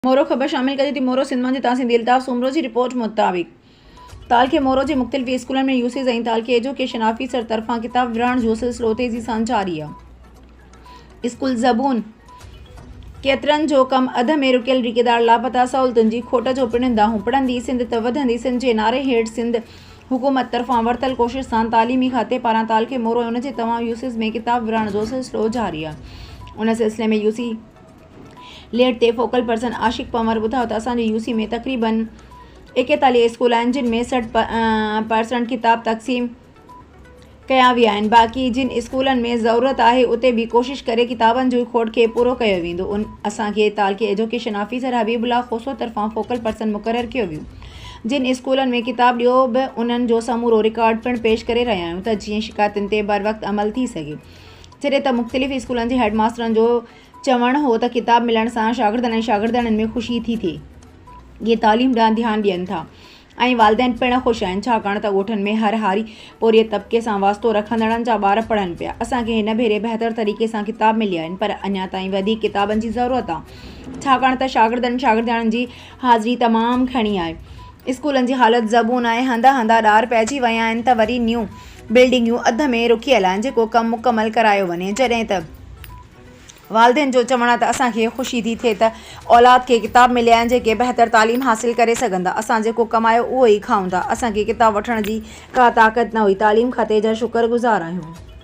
مورو خبر شامل ڪجي ٿي مورو سنڌ مان جي تحسين ٿي الطاف سومرو جي رپورٽ مطابق تعلقي مورو جي مختلف اسڪولن ۾ يوسيز ۽ تعلقي ايجوڪيشن آفيسر طرفان ڪتاب ورهاڻ جوسلسلو تيزي سان جاري آ اسڪول زبون ڪيترن جو ڪم اڌ ۾ رڪيل ريڪيدار لاپتا سهولتن جي کوٽ جو پڻ دانهون پڙهندي سنڌ ته وڌندي سنڌ جي نعري هيٺ سنڌ حڪومت طرفان ورتل ڪوشش سان تعليمي کاتي پاران تعلقي مورو ۽ ان جي تمام يوسيز ۾ ڪتاب ورهاڻ جوسلسلو جاري آ ان سلسلي ۾ يوسي ليڊ تي فوڪل پرسن عاشق پنور ٻڌايو ته اسان جي يو سي ۾ تقريبن ايڪيتاليهه اسڪول آهن جن ۾ سٺ پرسنٽ ڪتاب تقسيم ڪيا ويا آهن باقي جن اسڪولن ۾ ضرورت آهي اتي به ڪوشش ڪري ڪتابن جي کوٽ کي پورو ڪيو ويندو اسان کي تعلقي education officer Habibullah Khoso طرفان فوڪل پرسن مقرر ڪيو ويو جن اسڪولن ۾ ڪتاب ڏيو به انهن جو سمورو رڪارڊ پڻ پيش ڪري رهيا آهيون ته جيئن شڪايتن تي بروقت عمل ٿي سگهي جڏهن ته مختلف اسڪولن جي هيڊ ماسترن جو چوڻ هو ته ڪتاب ملڻ سان شاگردن ۽ شاگردياڻين ۾ خوشي ٿي ٿئي. اهي تعليم ڏانهن ڌيان ڏين ٿا ۽ والدين پڻ خوش آهن ڇاڪاڻ ته ڳوٺن ۾ هر هاري پورهيت طبقي سان واسطو رکندڙن جا ٻار پڙهن پيا. اسان کي هن ڀيري بهتر طريقي سان ڪتاب مليا آهن پر اڃا تائين وڌيڪ ڪتابن جي ضرورت آهي ڇاڪاڻ ته شاگردن شاگردياڻين جي حاضري تمام گهڻي آهي. اسڪولن جي حالت زبون آهي هنڌ هنڌ ڏار پئجي ويا آهن ته وري نيون بلڊنگيون اڌ ۾ رڪيل آهن جيڪو ڪم مڪمل ڪرايو وڃي جڏهن ته والدين جو چوڻ آهي ته اسان کي خوشي ٿي ٿئي ته اولاد کي ڪتاب مليا آهن جيڪي بهتر تعليم حاصل ڪري سگهن ٿا اسان جيڪو ڪمايو اهو ئي کائون ٿا اسان کي ڪتاب وٺڻ جي ڪا طاقت نه هئي تعليم کاتي جا شڪر گذار آهيون.